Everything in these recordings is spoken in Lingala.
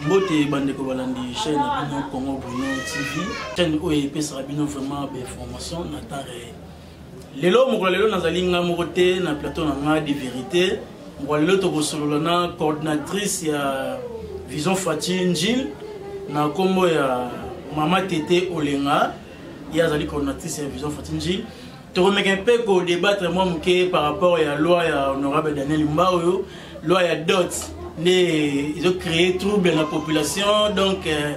mbote bandeko balandi chaîne na bino congo bruno tv chaîne oyo epesaka bino vraiment bainformation na temps réel lelo mokolo lelo nazali ngai moko te na plateau na ngai de vérité mokolo lelo tokosolola na coordinatrice ya vision fati njil na nkombo ya mama tete olenga ye azali coordinatrice ya vision fati njil tokomeka mpe kodebatre mwa moke par rapport ya loi ya honorable daniel mba oyo loi ya dot nde ezocree trouble na population donc euh,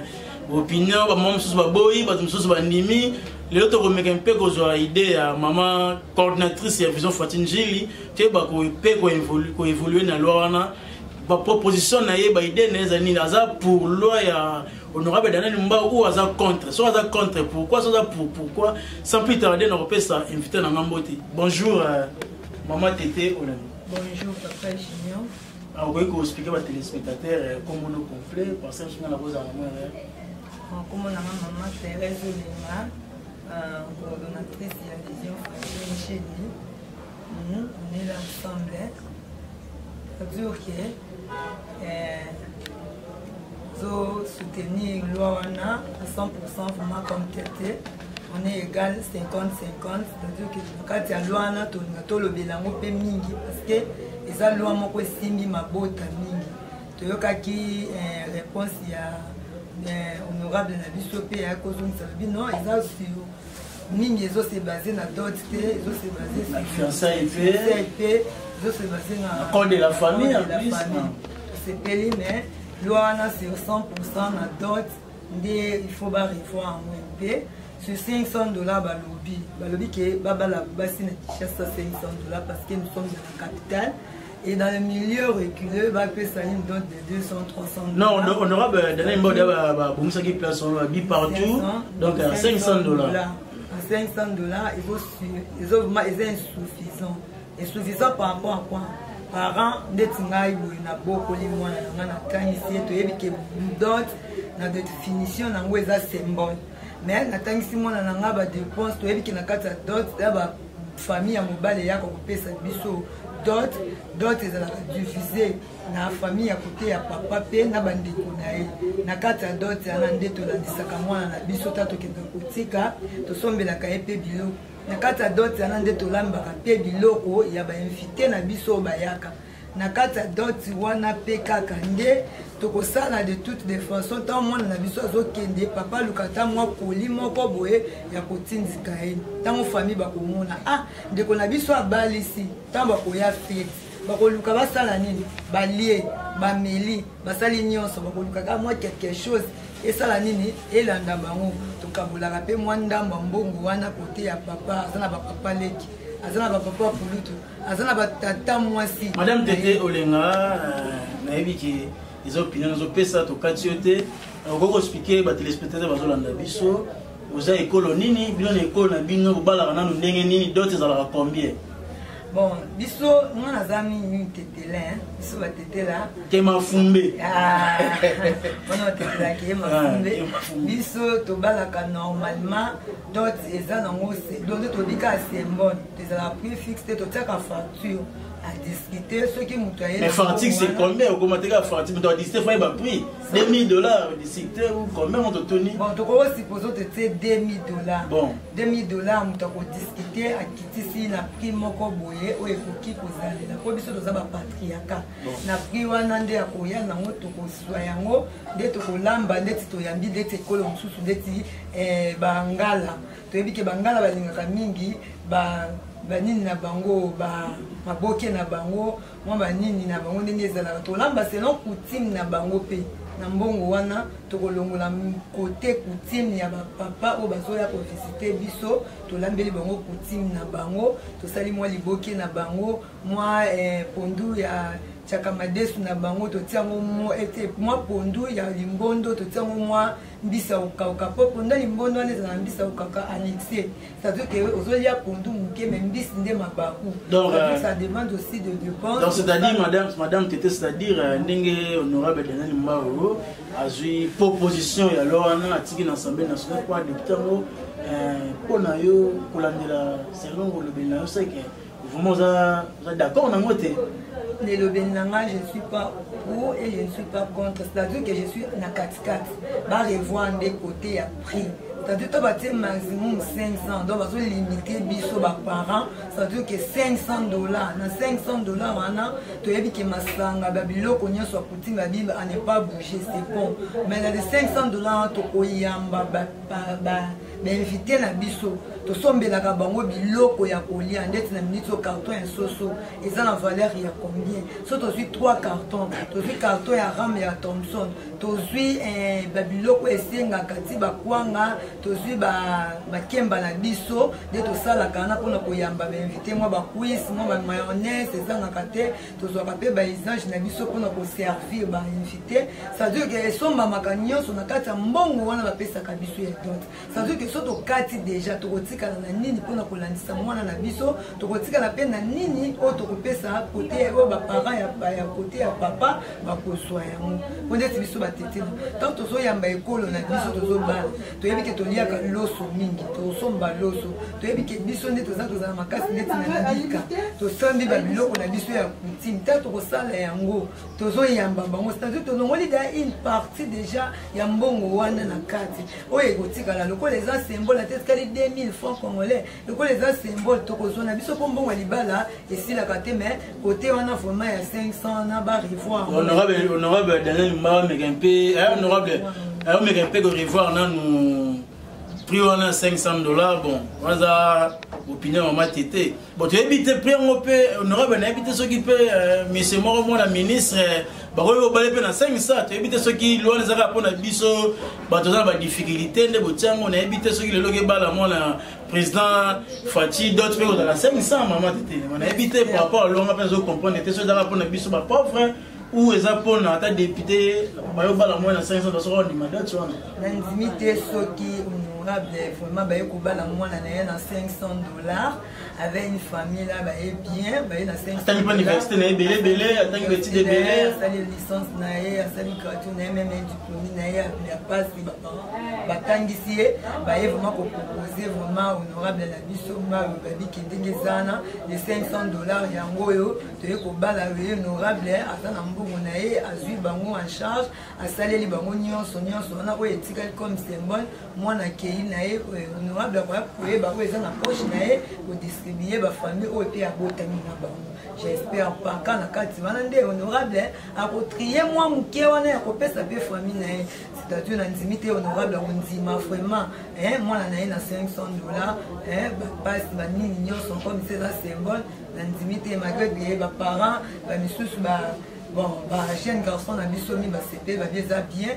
opinion bamama mosusu baboyi bato mosusu bandimi lelo tokomeka mpe kozwa idée ya mama coordinatrice ya vision fatine jili toyeba mpe koevolue na loi wana baproposition na ye baide na ye ezali nini aza pour loi ya honorable daniel mba oyo aza contre soki aza contre pourquoi soki aza pour pourquoi sans plus tarde na kopesa invité na nga mbote bonjour euh, mama tete olani bonjour papa junior ah, okoki koexplike batelespectateur euh, kombono complet parce que nga nakozala mama erreur nkombo na nga mama therese olenga euh, coordonnatrice ya vision francine cheni Mhm, on est là ensemble. Ça veut dire que euh, zo soutenir loi wana à 100% vraiment comme tete on est égal 50-50 c'est-à-dire que na kati ya loi wana tolinga tolobela yango mpe mingi parce que eza loi moko esimbi mabota mingi toyokaki euh, réponse ya euh, honorable na biso mpe ya kozongisa lobi non eza sur mingi ezo se base na dot te ezo se base na fiançailles te ezo se base na code de la famille en plus osepeli mais loi wana c'est 100 na dot nde il faut ba revoir yango mpe sur 500 dollars balobi balobi ke babala basi na kinshasa 500 dollars parce que nous sommes dans la capitale Et dans le milieu reculé, va appeler ça une dot de 200, 300 dollars. Non, on aura donné une dot de place, on va partout. Donc à 500 dollars. À 500 dollars, ils sont insuffisants. Insuffisants par rapport à quoi parent ndeti ngai boye nabokoli mwana na ngai nakanisi ye toyebi ke dot na definition na yango eza symbole mais natangisi mwana na ngai badepense toyebi ke na kati ya dot famille ya mobali eyaka kopesa biso dot dot ezalaka divise na famille ya kote ya papa mpe na bandeko na ye na kati ya dot yana nde tolandisaka mwana na biso ta tokenda kotika tosombelaka ye mpe biloko na kati ya dot yana nde tolambaka mpe biloko ya bainvite na biso oyo bayaka na kati ya doti wana mpe kaka nde tokosala de toute de façon ntango mwana na biso azokende papa aluka ata mwa koli moko boye ya kotindika ye ntango famille bakomona ah ndeko na biso abalisi ntango bakoya fete bakoluka basala nini balie bameli basali nyonso bakoluka kaka mwa quelque chose esala nini elanda bango tokabolaka mpe mwa ndambo mbongo wana kote ya papa aza na bapapa leki aza na bapapa pulutu aza na batata mwasi madame tete olenga euh, nayebi ke eza opinion nazopesa tokati yo te okoki koexplike batelespectateur bazolanda biso oza ekolo nini bino na ekolo na bino bobalaka nanu ndenge nini dote ezalaka combien bon biso nga naza mingi tetele biso batetela ke mafumbe ah, wana batetela ke mafumbe ah, biso tobalaka normalement dot eza nango donte tobika sembone ezalaka prix fixe te totiaka facture adiscute soki moto aye mais fartique c'est combien okoma teka fartique moto adiscute fo yeba prix 2000 dollars discute ou combien moto toni bon tokoki osupose ote tie 2000 dollars bon 2000 dollars moto akodiscute akitisi na prix moko boye oyo ekoki kozalela mpo biso toza bapatriaka na prix wana nde akoya nango tokoswa yango nde tokolamba ndeti toyambi ndeti ekolo mosusu ndeti eh, bangala toyebi ke bangala balingaka mingi ba banini na bango ba maboke na bango mwa banini na bango ndenge ezalaka tolamba selon coutume na bango mpe na mbongo wana tokolongola kote coutume ya bapapa oyo bazoya kovisite biso tolambeli bango coutume na bango tosali mwa liboke na bango mwa eh, pondu ya chakamadesu na bango totiango mwa pondu ya limbondo totiango mwa eh, mbisi ya kokauka mpo mponda limbondo wana ezala mbisi ya kokauka annexe c'est-à-dire que ozolia pondu moke mais mbisi nde mabaku donc euh, ça demande aussi de dépense donc c'est-à-dire madame madame tete c'est-à-dire euh, ndenge honorable daniel mbao azwi proposition ya loi wana atiki na assemblée nationale mpo adepute yango mpo euh, na yo kolandela selon olobeli na yo seke vraiment oza oza d'accord nango te nelobeli na ngai je ne suis pas pro et je ne suis pas contre c'est-à-dire que je suis na katikati barevoir nde côté ya prix c'est-à-dire to batie maximum 500 donc bazolimite biso baparent c'est-à-dire ke 500 dollar na 500 dollar wana toyebi ke masanga ba biloko nyonso ya coutume ya bible a ne pas bouger c'est bon mais na de 500 dollar tokoyamba ba, ba, ba bainvite na biso tosombelaka bango biloko ya kolia ndeti na miniti oyo carton ya soso eza na valeur ya combien so tozwi 3 carton tozwi carton ya rame ya thomson tozwi eh, babiloko esengaka ti bakwanga tozwi bakemba na biso nde tosalaka wana mpona koyamba bainvite mwa bacuise mwa bamayonnaise ezangaka te tozwaka mpe baisage na biso mpona koservir bainvité cestadire ke esombamaka nyonso na kati ya mbongo wana bapesaka biso ya dot cestadire ke so tokati deja tokotikala na nini mpona kolandisa mwana na biso tokotikala mpe na nini oyo tokopesa kote oyo baparent ya kote ya papa bakozwa yango mpo ndeti biso batetela ntango tozoyamba ekolo na biso tozobala toyebi ke toliaka loso mingi tosomba loso toyebi ke biso nde toza tozala makasi ndeti na libika tosambi babiloko na biso ya kutime ntango tokosala yango tozoyamba bango cetadire tolongoli da une partie déjà ya mbongo wana na kati oyo ekotikala lokola eza sembola te etikali 2000 franc congolais lokola eza symbole tokozwa na biso mpo mbongo ya libala esilaka te mais kote wana vraiment ya 500 na ba revoir honorable daniel mba meka mpe eh, honorable omeka mpe ko revoir nanu prix wana 500 dollars bon waza opinion mama tete bon toyebi te prix yango mpe honorable nayebi te soki mpe eh, monsieur moko mwana ministre bakoki kobale mpe na 500 toyebi te soki lwana ezaka mpo na biso bato aza na badifficulté nde botiango nayebi te soki lelo kebala mwana président fati dot mpe kozala semisama mama tetelema nayebi te par rapport alonga mpe azocomprendre te soki ezaka mpona biso bapauvre ou eza mpona ata député bayobala mwana na 500 basoki ondima dot wana nandimi te soki honorable vraiment baye kobala mwana na ye na 500 dollars avait une famille là baye bien baye na atangi mpe université na ye ebele ebele atangi betide ebele asali licence na ye asali gratuit na ye meme diplome na ye ya pasi baparent batangisi ye baye vraiment kopropose vraiment honorable na biso mayo babiki ndenge ezana de 500 dollars yango oyo toye kobala ye honorable aza na mbongo na ye azwi bango en charge asaleli bango nyonso nyonso wana oyo etikali comme symbole mwana akei na ye eh, honorable akoya koyeba oyo eza na poche na ye kodistribue bafamille oyo mpe abotami na bango j'espère pas ka na kati wana nde honorable eh, akotrie mwa moke wana ya kopesa mpe famille na ye c'est-à-dire nandimi te honorable akondima vraiment eh, mwana na ye na 500 dollar bapasi banini nyonso comme se eza symbole nandimi te malgré que baparent bamisusu ba bon ba jeune garçon na biso mi basepeli babi eza bien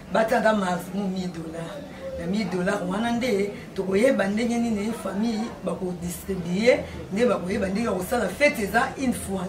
batanga maximum 1000 dollars na 1000 dollars wana nde tokoyeba ndenge nini famille bakodistribue nde bakoyeba ndenge ya kosala fete eza une fois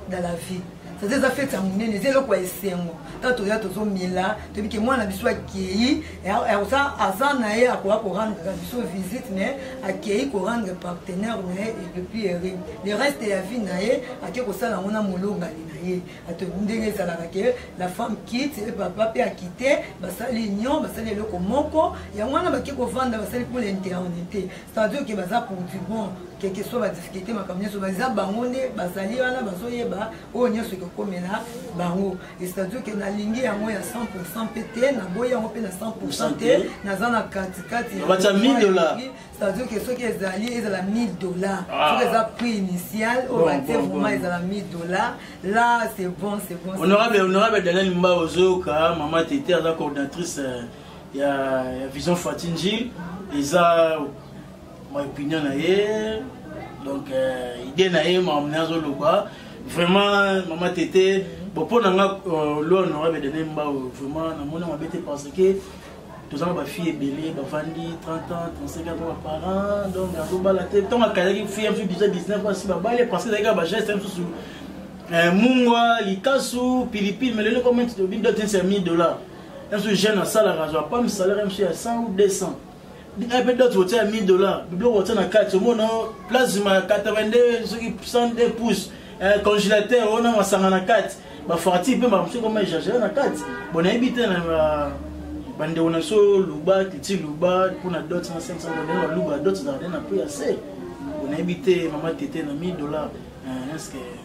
dans la vie sasa eza fete ya monene eza eloko ya esengo ntango toya tozomela toyebi ke mwana biso akei aza aza na ye akoya korendre biso visite na ye akei korendre partenaire na ye epuis ere le reste ya vie na ye ake kosala yango na molongani na ye bato ndenge ezalaka ke la femme kite e papa mpe akite basali union basali eloko moko yango wana bake kovanda basali mpo l'internité c'est-à-dire ke baza pour du bon keke so badifficulté makambo nyonso baza bango nde bazali wana bazoyeba oyo nyonso ekokomela bango c'est-à-dire ke nalingi yango ya 100 pourcent mpe te naboyi yango mpe na 100 pourcent te naza na katikati c'est-à-dire que soki ezali ezala 1000 dollars ah. soki eza prix initial oyo batie vraiment ezala 1000 dollars là c'est bon c'est bon honorable honorable daniel mba ozoyoka mama tete aza coordinatrice euh, ya vision fatinji eza ma opinion na ye donc euh, idée na ye makambo na azoloba vraiment mama tete bon mpo na nga euh, lo honorable daniel mba vraiment namoni mabe te parce que toza na bafille ebele bavandi 30 ans 35 ans baparent donc azobala te ntango akazaki fille mosusu déjà 19 ans si babale parce que ezalaki kaka bageste mosusu eh, mungwa likasu pilipili mais lelo ekomi obindotinsi ya 1000 dollars mosusu jeune asalaka azwa pam salaire mosusu ya 100 ou 200 un peu d'autres votaient à 1000 dollars biloko votaient na kati omona plasma 82 soki 102 pouces euh, congélateur ona masanga na kati bafarti mpe bamosusu koma echangere na kati bo nayebi te na euh, bandeko na biso luba titi luba mpo na dot na 500 dollars baluba dot ezalaka na prix ya se bo nayebi te mama tete na 1000 dollars euh, eske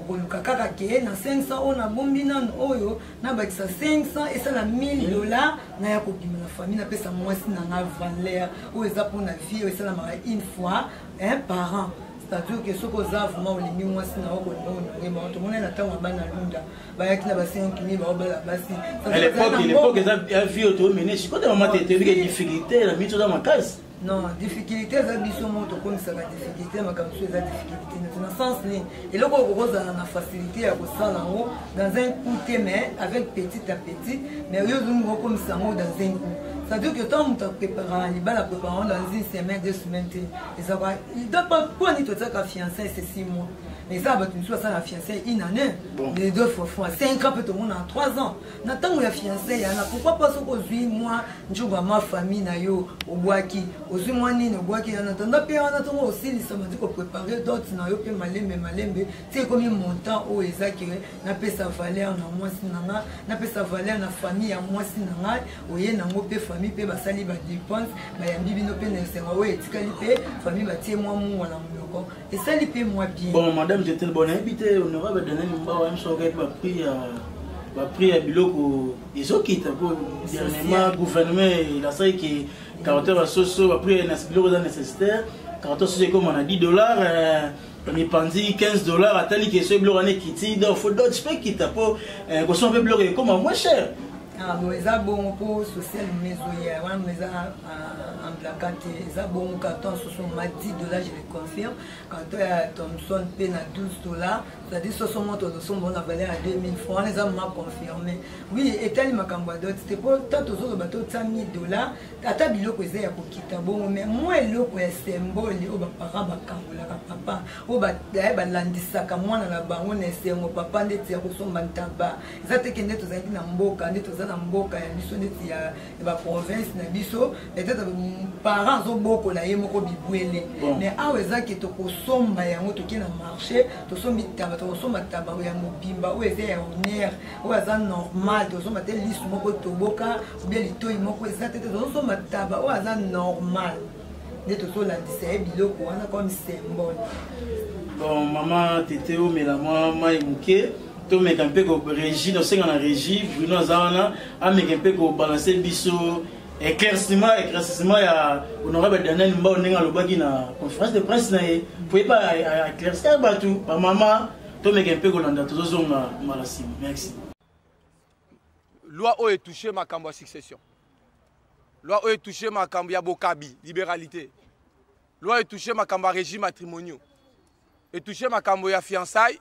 okoluka kaka ke na 500 oyo nabombi nano oyo nabakisa 500 esala 1000 dollars na ya kobima na famille napesa mwasi na nga valeur oyo eza mpona vie oyo esalamaka une fois un parent c'est-à-dire ke soki oza vraiment olingi mwasi na yo kolinga ononge bango tomonai na ntango ya bana lunda bayaki na basinkimi baobala basi eza vie oyo toomene sikote mama te toyebi ke difficulté na miso oza makasi non difficulté eza biso moko tokomisaka difficulté makambo biso eza difficulté neti na sens nini eloko oyo kokozala na facilité ya kosala yango dans un coup te mais avec petit à petit mais oyo ozongi kokomisa yango dans un coup c'est-à-dire que tant moto apreparaka libala apreparaka yango dans une semaine deux semaines te ezaka mponi totiaka fiancé c'est six mois mais eza bato mosusu basala fiancé une année les deux fois fois cinq ans mpe tomonaka trois ans na ntango ya fianse yana pourkui pas soki ozwi mwa njoba ma famille na yo obwaki ozwi mwa nini obwaki yana tanda mpe wana ntongo osilisa mati koprepare dote na yo mpe malembe malembe ti ekomi montant oyo eza ke napesa valeur na mwasi na ngai napesa valeur na famille ya mwasi na ngai oye nango mpe famille mpe basali badepense bayambi bino mpe na esenga oyo etikali mpe famille batie mwa mungwa na monoko esali mpe mwa bien bon madame jetel bon nayebi te honorable daniel mbawa yamso okaki baprix ya baprix ya biloko ezokita mpo dernièrement gouvernement elasaki ke caractère ya soso baprix ya biloko eza nécessitaire caractère soso ekoma na 10 dollars euh, mipanzi 15 dollars atali ke soki biloko wana ekiti donc fo dot mpe ekita mpo euh, kosoma mpe biloko ekoma moins cher Ah, bon eza bongo mpo social meme ezoya wana meza en blaka te eza bongo carton soso ma 10 dollar je le confirme carton ya thomson mpe na 12 dollar c'est-à-dire soso moto ozosomba na valeur ya 2000 franc wana eza ma confirme oui etali makambo ya dote te mpo ta tozoloba totya 1000 dollar ata biloko eza ya kokita bongo mai mwa eloko ya symbole oyo baparent bakangolaka papa oyo balandisaka mwana na bango na esengo papa ndeti ya kosomba ntaba eza teke nde tozalaki na mboka nde toza na mboka ya biso neti ya baprovince na biso peut-être parent azobokola ye moko bibwele mais awa eza ke tokosomba yango toke na marché tosombi taba tokosomba taba ya mobimba oyo eza ya honneur oyo aza normal tozosomba te lisu moko toboka obia litoi moko eza te te tozosomba taba oyo aza normal nde tozolandisa ye biloko wana comme symbole bon mama tete omela mwa mai moke tomeka mpe ko régie tosenga na régie bruno aza wana ameka mpe kobalanse biso éclaircissement éclaircissement ya honorable daniel mbao ndenge alobaki na conférence de presse na ye mpo ye ba éclaircir bato bamama tomeka mpe kolanda tozozonga mbala nsima merci loi oyo etouche makambo ya succession loi oyo etouche makambo ya bokabi libéralité loi etouche makambo ya régime matrimoniaux etouche makambo ya fiançaille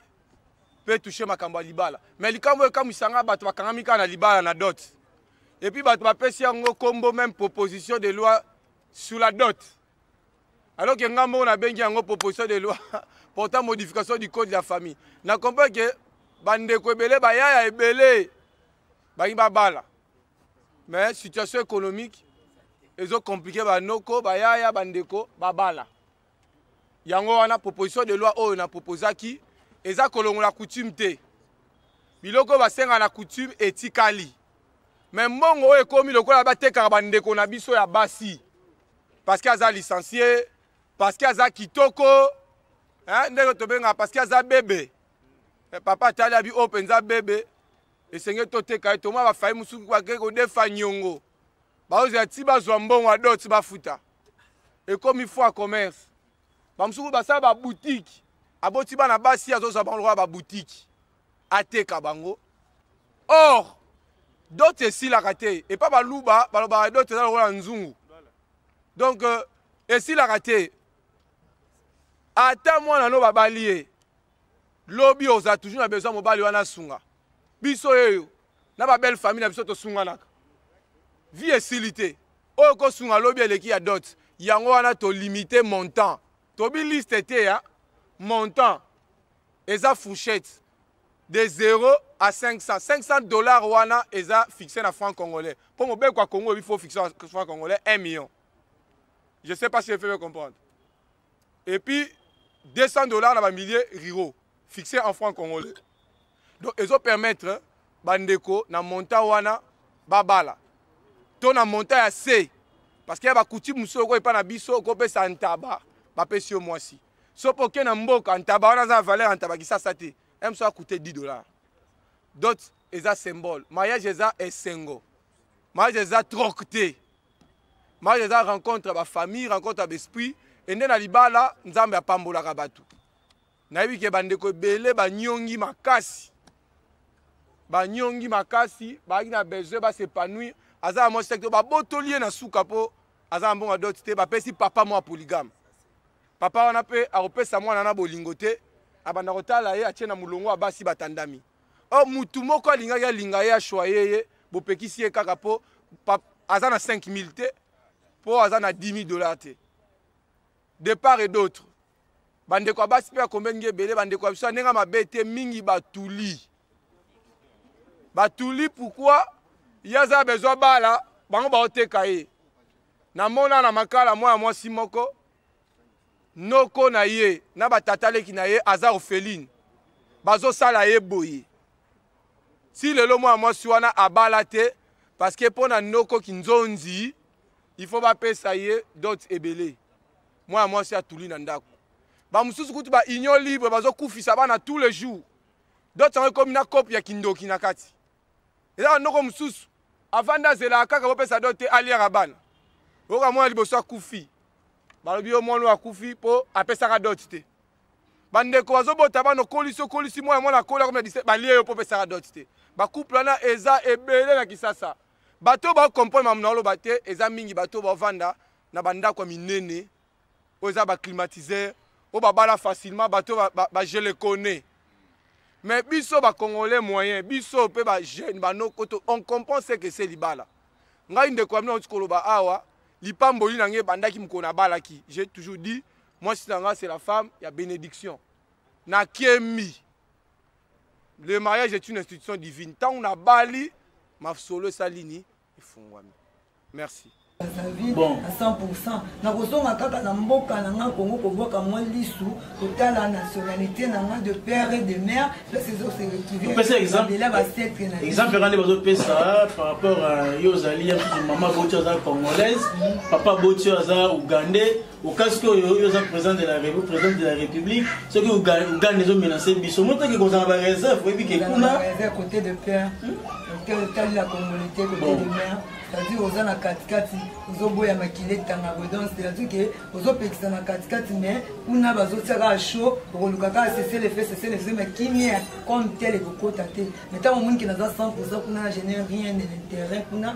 mpe touche makambo ya libala me likambo oyo ekamwisa ngai bato bakangami kaka na libala na dot epuis bato bapesi yango nkombo meme proposition de loi sur la dot alors ke ngai moko nabengi yango proposition de loi portant modification du code de la famille na comprendre ke bandeko ebele bayaya ebele balingi babala mais situation économique ezo komplike banoko bayaya bandeko babala yango wana proposition de loi oyo na proposaki eza kolongola coutume te biloko oyo basenga na coutume etikali me mbongo oyo ekomi lokola batekaka bandeko na biso ya basi parceke aza licencie parceke aza kitoko ndenge tobengaka parceke aza bebe eh, papa atali abi oyo mpenza bebe esengeli toteka ye toma bafayi mosuku bake kodefa nyongo baozela ti bazwa mbongo ya dot bafuta ekomi foi commerce bamosuku basala babutike aboti bana basi azozwa bango lokola babutike ateka bango or dot esilaka te epa baluba balobaka dot eza lokola nzungu donc euh, esilaka te ata mwana no babali ye lobi oza toujours na besoin mobali wana asunga biso yeyo na ba belle famille na biso tosunganaka vie esili te oyo kosunga lobi eleki ya dot yango wana tolimite montant tobi liste te ya montant eza fourchette de 0 à 500 500 dollars wana eza fixe na franc congolais mpo mobeko ya congo ebi fo fixe franc congolais 1 million je sais pas si efebe comprendre et puis 200 dollars na ba milliers riro fixé en franc congolais donc ezo permettre bandeko na montant wana babala to na montant ya se parce que ya bakuti mosusu oko epa na biso okopesa ntaba bapesi yo mwasi soki oke na mboka ntaba wana aza na valeur ya ntaba kisasa te mso akute 10 dollars dot eza symbole mariage eza esengo mariage eza troc te mariage eza rencontre ya bafamille rencontre ya baesprit ende na libala nzambe apambolaka bato nayebi ke bandeko ebele banyongi makasi banyongi makasi bazalaki na besoin basepanouir aza na mwasi te babotoli ye na suka mpo aza na mbongo ya doti te bapesi papa mwa polygame papa wana mpe akopesa mwana na bolingo te abanda kotala ye atie na molongo ya basi batandami or mutu moko alingaki alinga ye ashwaye ye bopekisi ye kaka mpo aza na 5000 te mpo aza na 10000 dollar te de part et d'autre bandeko ya basi mpe ya combien ngi ebele bandeko ya biso ya ndenge ya mabe te mingi batuli batuli pourkui ye aza bezwa bala bango baoteka ye namona na makala mwana mwasi moko noko na ye na batata leki na ye aza orpheline bazosala ye boye ti lelo mwana mwasi wana abala te parceke mpo na noko kinzonzi il faut bapesa ye dot ebele mwana mwasi atuli na ndako bamosusu kutu ba union libre bazokufisa bana tous les jours dot yango ekomi na cope ya kindoki na kati eza na noko mosusu avandi azelaka kaka bopesa do te aliaka bana oyoka mwana liboso akufi balobi yo mwana oyo akufi mpo apesaka dote te bandeko bazobota bana okolisi okolisi mwana mwana akoli akomi na dise balie yo mpo opesaka dote te bacouple wana eza ebele na kisasa bato oyo bakokomprendre makambo na oloba te eza mingi bato oyo bavanda na bandako ya minene oyo eza ba climatiseur oyo babala facilement bato bagele kone mais biso bacongolais moyen biso mpe bajeune banoko to on comprend ce que se libala ngai ndeko ya mina auti koloba awa lipamboli na ngai ebandaki mokolo nabalaki j'ai toujours dit mwasi na ngai c'est la femme ya bénédiction nakemi le mariage est une institution divine ntango nabali masolo esali nini efungwami merci bon. à 100% nakozonga kaka na mboka na nga kongo kobwaka mwa lisu kotala nationalité na nga de père et de mère place ezose retrouveela basetre na exemple nga nde bazopesa ah, par rapport yo ozali ya mama boti aza congolaise mm. papa boti aza ougandais okasiki oyo oyo oza président de la président de la république soki uganda ezo menase biso motaki kozala ba réserve oyebi ke kuna côté de père tali la congolité côté de mère c'est-à-dire oza na katikati ozoboya makili etanga boye donc c'est-à-dire ke ozopekisa na katikati mais kuna bazotia kaka chaud okoluka kaka seselefe seselefe mais kimia comme tel ekokota te mais ntango omoni ke naza 100 kuna na génère rien de l'intérêt kuna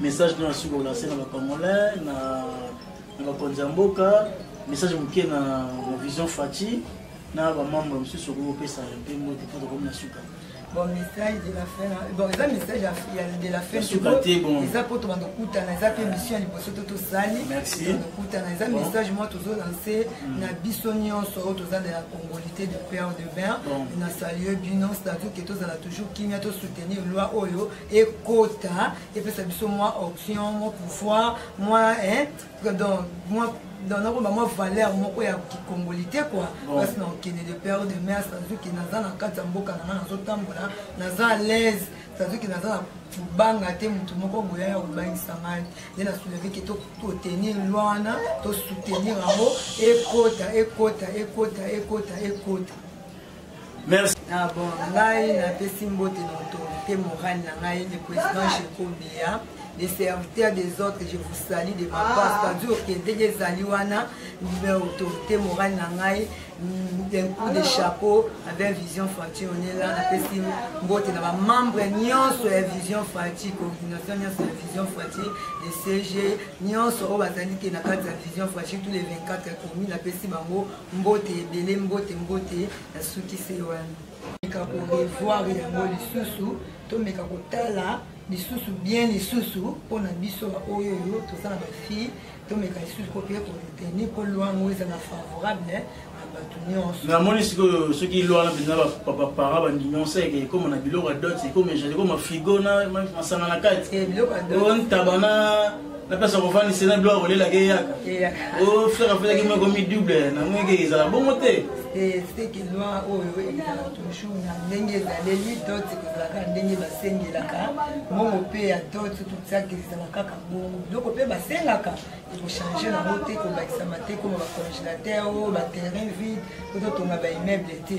message nde nasuki kolanse na bacongolais na bakonzi ya mboka message moke na vision fati na bamembre mosusu okoki kopesa mpe mbote mpo tokomi na suka bon message de la fin bon eza message de la fin suka te bon eza mpo tobanda kokutana eza mpe mission ya liboso to tosali tokutana eza message mwa tozolanse na biso nyonso oyo toza na ya congolité de père de bain na salue bino statut ke tozala toujours kimia tosoutenir loi oyo ekota epesa biso mwa option mwa pouvoir mwa donc mwa donc nakoba mwa valeur moko ya kikongoli te kua place na okende de père de mère sazuki naza na kati ya mboka na nga nazotambola naza à l'aise sazuki naza na kobanga te motu moko boya ya kobangisa ngai nde na souleveke totenir loi wana tosoutenir yango ekota ekota ekota ekota ekota Merci. Ah bon, ngai napesi mbote na autorité morale na ngai le président Shekombia les serviteurs des autres je vous salue de ma part ah. c'est-à-dire que ndenge ezali wana autorité morale na ngai mm, d'un coup de chapeau avec vision fati onela napesi mbote na bamembre nyonso ya vision fati coordination nyonso ya vision fati de cg nyonso oyo bazali te na kati ya vision fati tous les 24 commune napesi bango Mbote ebele mbote mbote na suki se wana. Meka ko revoir yango lisusu to meka kotala lisusu bien lisusu mpo na biso baoyo oyo toza na bafille tomeka lisusu mpo mpe koretenir mpo loi yango ezala favorable na bato nyonso namoni sikoyo soki loi wana mpenza baparent bandinonse eke ekoma na biloko ya dot ekoma ejali ekoma frigo na masanga na kati eh, biloko ya dot ntaba na na place ya kovandisa na biloko kolelaka eyaka o oh, frere afetaki moko mi double na moyeke ezala bongo te seki lwa oyo ezala toujours na ndenge ezaleli doti kozalaka ndenge basengelaka mbongo mpe ya doti totiaki ezala kaka bongo biloko mpe basengaka ekochange nango te kobakisama te koma bacongélateur o baterrain vide ototonga baimmeuble te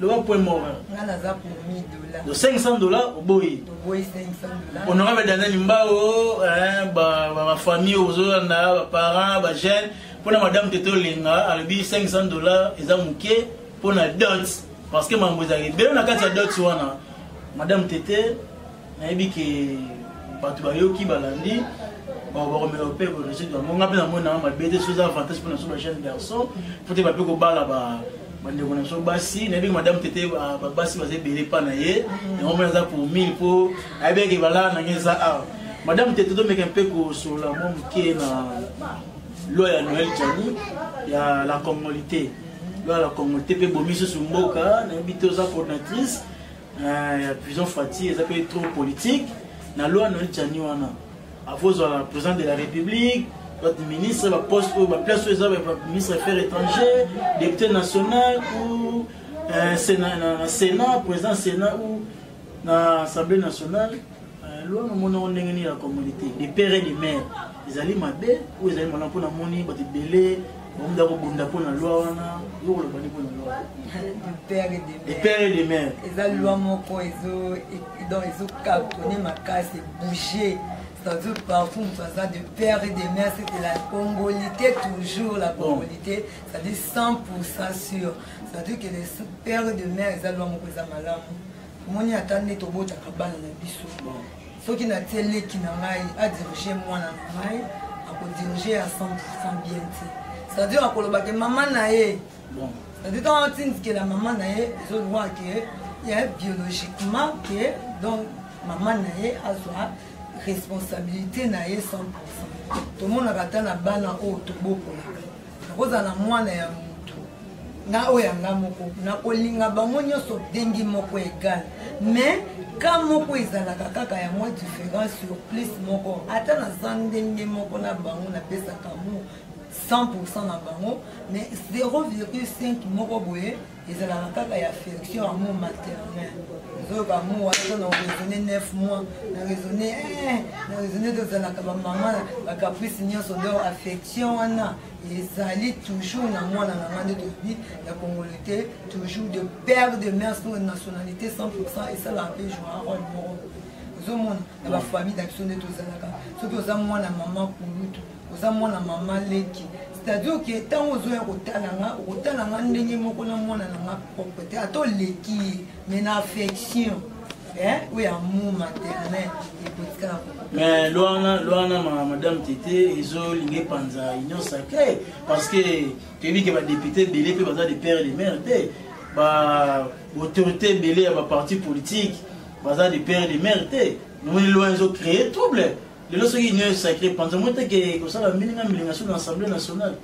loba point mort nga naza pour 1000 dollars donc 500 dollars oboyi oboyi 500 dollars honorable danani mbao hein ba ba, ba famille ozolanda ba parents ba jeunes pona madame tete olenga alobi 500 dollars eza moke pona dot parce que mambo ezali ebele na kati ya dot wana madame tete nayebi ke bato bayoki balandi bakomela mpe evolution yango nga mpe namoni nanga mabe te soza avantage mpo na so bajeune garçon mpo te bape kobala bandeko na biso basi nayebi ke madame tete ah, basi baza ebele mpa na ye mm. yango mpe naza pour mille mpo nayebi eke balala nange eza awa madame tete tomeka mpe kosolola mwa moke na loi ya noel jani ya la congolité loi ya la congolité mpe bomi susu mboka nayebi te oza coordinatrice Eh, ya prison fati eza mpe trop politique na loi noel jani wana akozala président de la république bato ministre baposte oyo baplace oyo eza ministre affaire étranger député national ou eh, na sénat président sénat ou na assemblée nationale Euh, loin omoni yango ndenge nini ya communauté de père et de mère ezali mabe oyo ezali malamu mpo namoni bato ebele bamuda kobunda mpo na loi wana yo koloba nde mpo na loi de père et de mère eza loi moko donc ezokakone makasi ebouge c'est-à-dire partout moto aza de père et de mère c'était la congolité toujours la congolité c'est-à-dire 100 pour ça sûr c'est-à-dire que le père et de mère eza loi moko eza malamu omoni ata nde tobotaka bana na biso soki natie leki na ngai adirige mwana na ngai akodirige ya 100 bien te c'est-à-dire akoloba ke mama na ye c'est-à-dire ntango atindikela mama na ye ezolwa ke ye biologiquement ke donc mama na ye azwa responsabilité na ye 100 tomonaka ata na bana oyo tobokolaka nakozala na mwana ya nga oyo yanga moko nakolinga bango nyonso ndenge moko egal mais ka moko ezalaka kaka ya mwa différence sur plus moko ata naza ndenge moko na bango napesaka mo 100 na bango mais 0,5 moko boye ezalaka kaka ya affection ya mo maternel ozoyoka mo wana na raisonne 9 mois na raisonne eh, na raisonne tozalaka bamama bacaprice nyonso donc affection wana ezali toujours na mwana na ngai nde tolobi ya congolais te toujours de père de mère sino nationalité 100 pourcent esalaka mpe joa role moko ozomona na bafamille na biso nde tozalaka soki oza mwana mama kulutu oza mwana mama leki c'est-à-dire ke ntango ozoya kotala nga okotala nga ndenge moko na mwana na nga propre te ata oleki ye mais na affection eh, oyo ya mu maternel ekotikala mais lwana lwana ma madame tete ezolinga epanza union sacré parce que toyebi ke badepute ebele mpe baza de père de mare te baautorité ebele ya baparti politique baza de père de mare te nomoni lwana ezocree trouble lelo soki union sacré panza moi te ke kosala milinga milinga soki na assemblée nationale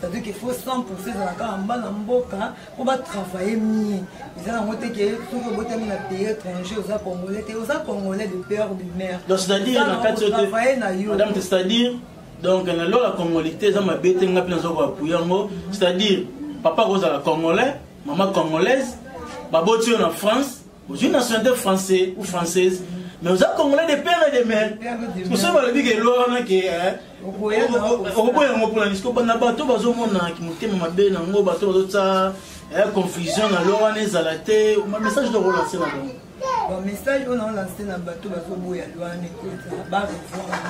c'est-à-dire qu'il faut 100 pourcent ezalaka en bana mboka mpo batravaille mie eza yango te ke soki obotami na pays étranger oza congolais te oza congolais de père de mère donc c'est-à-dire na kati otravaille na yo madame c'est-à-dire donc na lola congolité eza mabe te nga mpe naza koapuye yango c'est-à-dire papa akozala congolais mama congolaise baboti yo na france ozwi nationalité français ou française mais oza congolais de père et de mère mosusu balobi ke elora wana ke okoboya yango mpona nisiko bana bato bazomona motema mabe na yango bato bazotya confusion na lora wana ezala te message de relance na bango bamessage oyo naolanse na bato bazoboya lwana ekota barevoir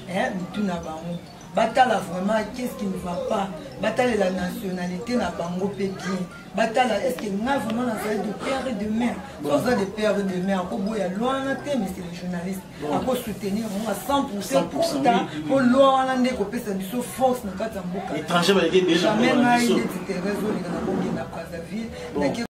mais mitu na bango batala vraiment qu'est ce qui ne va pas batalela nationalité na bango mpe bien batala est ce que nga vraiment nazali de père et de mère so oza de père et de mère akoboya loi wana te mais c'est le journaliste akosoutenir yango à 100 pourcent pourta mpo loi wana nde ekopesa biso force na kati ya mboka jamais ngai neti therese oleka nakokenda brazzaville